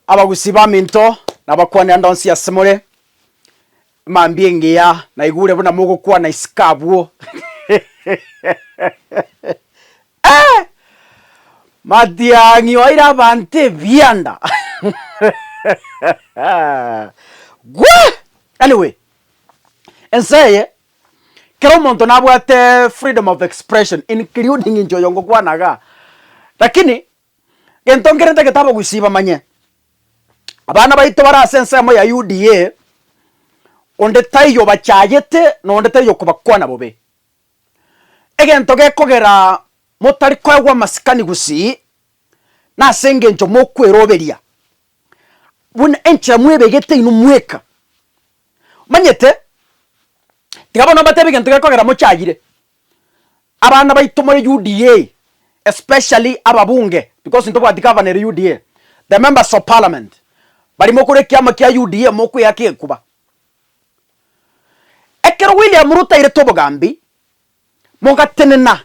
Abagusii baminto, nabakwanera ndonsi ase more, mambia engiya naigure buna mogokwana isiko abwo eeh! Matiang'i oeire abanto ebianda gwaa! Anyway, ense eye kera omonto nabwate freedom of expression including inche oyo ngokwana igaa, lakini Gento nkerente getaaba gwisiba manye abana baito bare ase ensemo ya UDA onde taiyo obachayete na onde taiyo okobakwana bobe. Egento gekogera motari koegwa amasikani gusii nase engencho mokweroberia buna enchera mwebegete inwe mweka. Omanyete? Tiga bono mbatebi gento gekogera mochayire. Abana baito more UDA especially ababunge because ntobwati governor ere UDA, the members of parliament baria mokore ekiama kia UDA mokweyaka ekuba. Ekero William Ruto airete obogambi mogatenena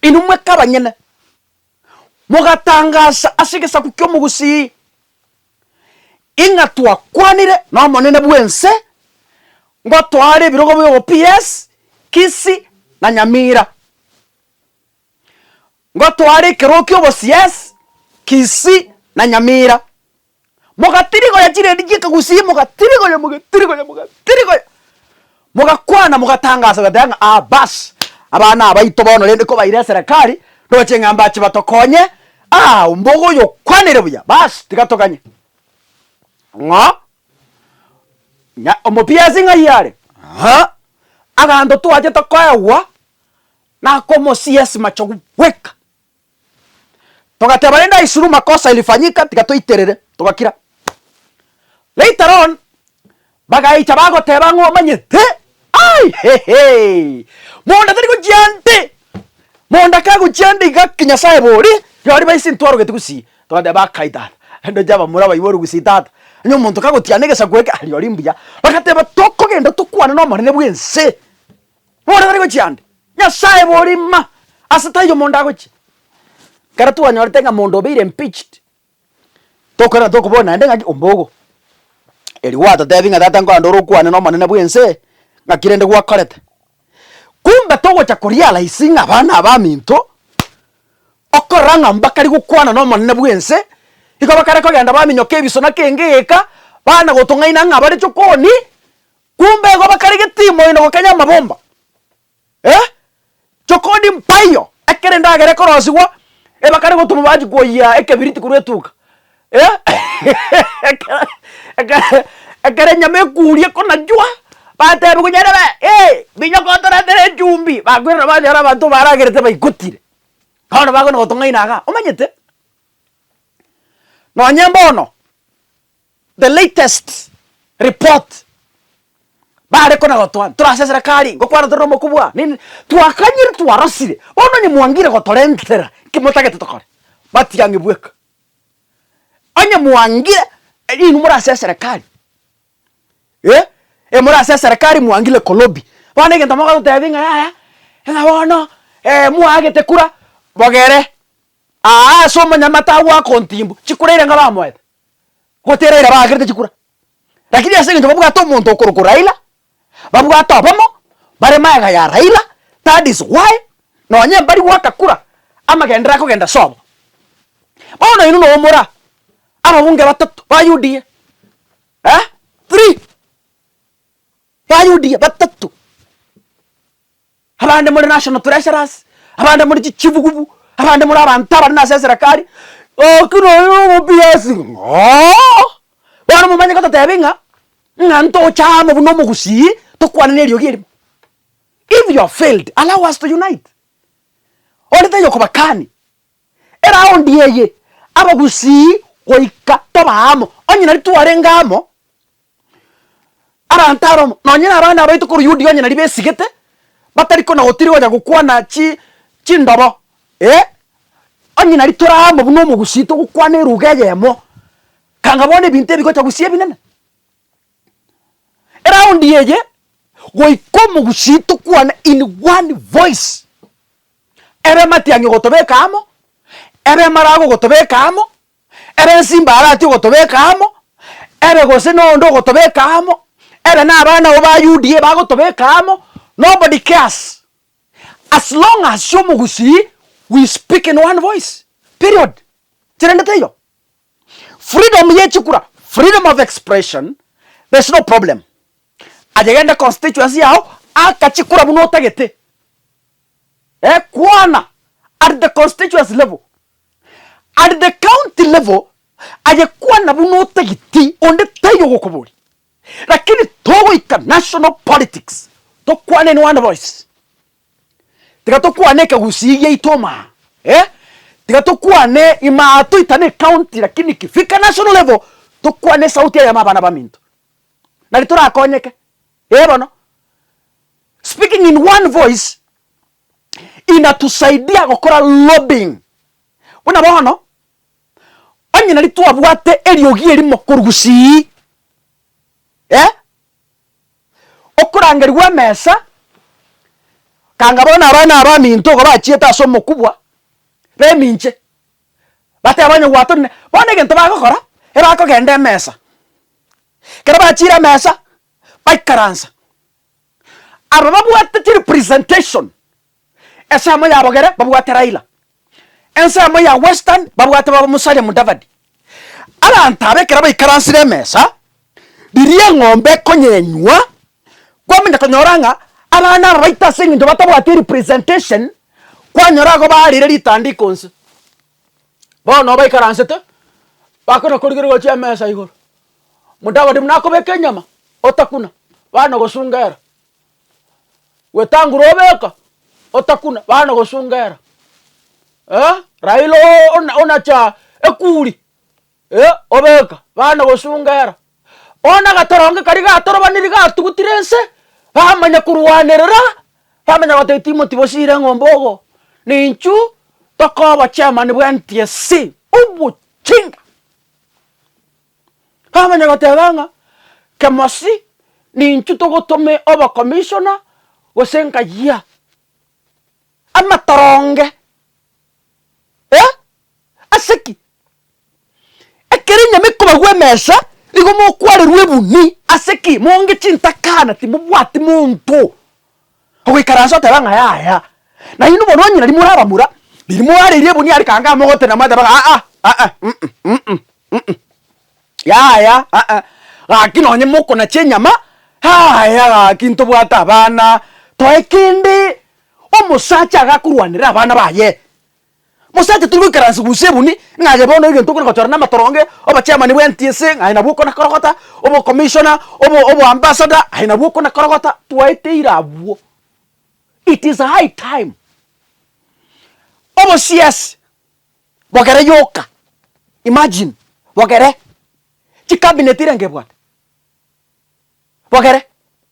inwe mweka abanyene Mogatangaasa ase egesaku ki'omogusii ing'a twakwanire nomonene bw'ense ngotoare ebirogo biogo PS, Kisi na Nyamira. Ngotoare ekerogo ki'oboCS, Kisii na Nyamira. Mogatirigoria chirendi chi'ekegusii, mogatirigoria, mogatirigoria, mogatirigoria, mogakwana, mogatangaasa, mogateba ng'a ah baas, abana abaito bono rende kobaire eserekari, ndoche ng'a mbache batokonye, ah ombogo oyo okwanire buya, baas tiga toganye. Ng'o? Nya omopiasi ng'ai are? Aa, aganto twache tokoegwa nakomosia esimachogu bweka. Togateba rende aisuru makosa ilifanyika tiga toiterere, togakira. Later on bagaicha bagoteba ng'a omanyete ai hehe monda tari gochia nde, monda kagochia nde iga ki Nyasaye bore rirorio baise ntwarogeti gusii, togateba akai tata rende oche abamura baibore gusii tata, onye omonto kagotiana egesaku eke rirorio mbuya, bagateba tokogenda tokwane na omonene bw'ense. Bore bari gochia ande. Nyasaye bori ng'a ase taiyo omonto agochia. Ekero twanyorete ng'a omonto obeire impeached, tokorenda tokoboria naende ng'aki ombogo. Eri gwatotebi ng'a tata nkorende ore okwane nomonene bw'ense eye, ng'aki rende gwakorete. Kumbe togocha korealize ng'a abana abaminto, okorora ng'a mbakare gokwana nomonene bw'ense, igo bakare kogenda baminyoka ebiso naki engegeka, bana gotong'aina ng'a bare chokoni, Kumbe igo bakarege timoyo na gokenya amabomba, eh, chokodi mpaiyo, ekero endagera ekorosigwa, eh, bakare gotoma bachi koyia ekebiriti korwa etuga, eh, ekero ekero ekero enyama ekuuria ekonachwa, bateba konya erebe eh, minyoko otoretere echumbi, bakoirora banyora abanto baragerete baigotire, bono bagana gotong'aina igaa, omanyete? Nonye bono, The latest report bare kona gotoa ntorase serekari ngokwana tore nomokubwa nini twakanyire twarosire bono onye mwangire gotorentera nki motagete tokore matiang'i bweka onye mwangire inwe more ase eserekari eh eh more ase eserekari mwangire kolobi bono egento mogototebia ng'a yaya ng'a bono mwagete kura bogere aa ase omonyamate agwo akontimbwa chikura eira nkabamoete gotera Raila bagakerete chikura, lakini ase eng'encho babwate omonto okorokwa Raila, babwate obomo, bare magega ya Raila, that is why nonye mbari goaka kura, amagendera akogenda sobo. Bono oino noyo omora ababunge batato ba UDA eh three. Abayudia batato, abande more national treasurers, abande more chichibugubu, abande more abanto abare nase eserekari, oki noyo nomobias ng'oo. Bono momanye gototebia ng'a ng'a ntocha amo buna omogusii tokwane neriogi erimo. If you have failed, allow us to unite. Onde taiyo okobakani, eraundi eye abagusii goika tobe amo, onye nari twarenge amo. Aranto aromo, nonye nabana baito korwa Yudia onye naria besigete, batari kona gotiri gocha gokwana chi chindobo, ee, onye naria tore amo buna omogusii togokwana eruga eyemo, kanga bono ebinto ebi bigocha gosia ebinene. Eraundi eye, goika omogusii tokwane in one voice, ebe matiang'i ogotobeka amo, ebe emarago ogotobeka amo, Ere ensimba arati ogotobeka amo, ere gose noonde ogotobeka amo, ere nabana abo ba UDA bagotobeka amo, nobody cares, as long as ase omogusii we speak in one voice, period. Kerende teiyo. Freedom ye chikura, freedom of expression, there's no problem. Aye gende constituency yao aka chikura buna otagete, eh, kwana at the constituency level. At the county level aye kwana buna otagiti onde taiyo ogokoboria lakini togoika national politics tokwane in one voice tiga tokwane ekegusii giaito omaa eh tiga tokwane imaa toitane ecounty lakini ikifika national level tokwane esauti eye ama abana baminto nari torakonyeke eh bono speaking in one voice. inatusaidia gokora lobbying. Buna bono, onye nari twabwate eriogi erimo korwa gusii, eh, okorangerigwa emesa, kanga bono abana abaminto iga bachiete ase omokubwa b'eminche, bateba onye gwatorire, bono egento bagokora, ebakogenda emesa, ekero bachire emesa, baikaransa. Aba babwate chi representation, esemo ya bogere babwate Raila, ensemo ya western babwate baba Musalia Mudavadi. Abanto aba ekero baikaransire emesa, riria eng'ombe ekonyenywa, kwamanya konyora ng'a abana aba baito ase eng'encho batabwati representation, kwanyora igo barire ritandiko inse. Bono baikaransete, bakona korigereria gochia emesa igoro. Omodavadi buna akobeka enyama, otakuna, bana ogosunga era. Wetangula obeka, otakuna, bana ogosunga era. Eh, Raila oo- ona- onacha ekuri, eh, obeka, bana ogosunga era. Bono agatoronge karia gatorobaniri gatugutire ense, bamanya korwanerera, bamanya goteba timoti bosiire eng'ombe ogo, na inchu tokoba chairman bw'NTSC, obochinga. Kamanya goteba ng'a Kemosi nintwe togotome obo commissioner gose nkayia amatoronge eh ase ki? Ekero enyama ekobagwa emesa nigo mokwarerwa ebuni ase ki? Monge chintakana timobwati monto. Ogoikaransa oteba ng'a yaya. Nainwe bono onye nari morabamura, riria moareirie ebunia rikanga amogotena mwateba ng'a aa aa mm mm mm yaya aa gaki nonye mokonacha enyama yaya gaki ntobwate abana toe kende omosacha agakorwanera abana baye Mosacha tari goikaransa gunse ebuni, ng'a aye bono egento okore gochora namatoronge, obochairman bwa NTSA, ng'a aye nabwo okona korogota, obocommissioner, obo oboambassador, aye nabwo okona korogota, twaeteire abwo. It is high time, obosiasi bogere yoka, imagine, bogere, chicabinet irenga ebwate, bogere.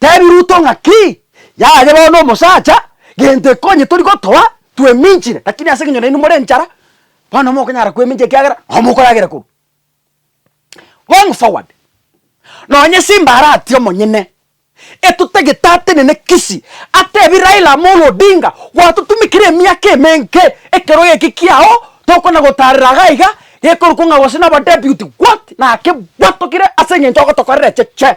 Teebia Ruto ng'a ki yaye bono omosacha, gento ekonye tori gotoa, tweminchire, lakini ase eng'encho nainwe more enchara, bono mokonyara kwemincha ekiagera nabo mokoragera korwa. Going forward, nonye Simba aratie omonyene, etotagete atenene Kisii, atebie Raila Amolo Odinga, gwatotumekire emiaka emenge, ekero geke kiao tokona gotarera iga iga, gekorokwa ng'a gose naba deputy, what? Naki gwatokire ase eng'encho ogotokorera echeche.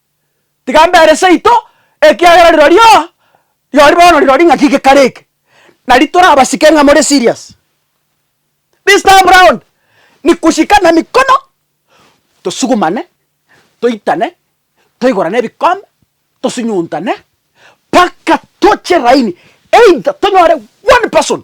tiga mbere seito, ekiagera rirorio, rirorio bono rirorio ng'aki gekare eke, nari torabasike ng'a more serious. This time round, ni kosika na mikono, tosugumane, toitane, toigorane ebikombe, tosunyuntane, mpaka toche raini, either tonyore one person.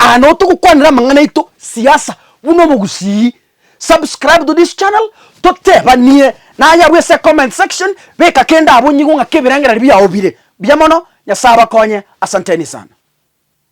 Aa nabo togokwanera amang'ana aito siasa buna omogusii. Subscribe to this channel totebanie nayabo ase comment section beka kende abonyigo ng'ake ebirengererio biao bire biya mono nyasae abakonye asanteni sana.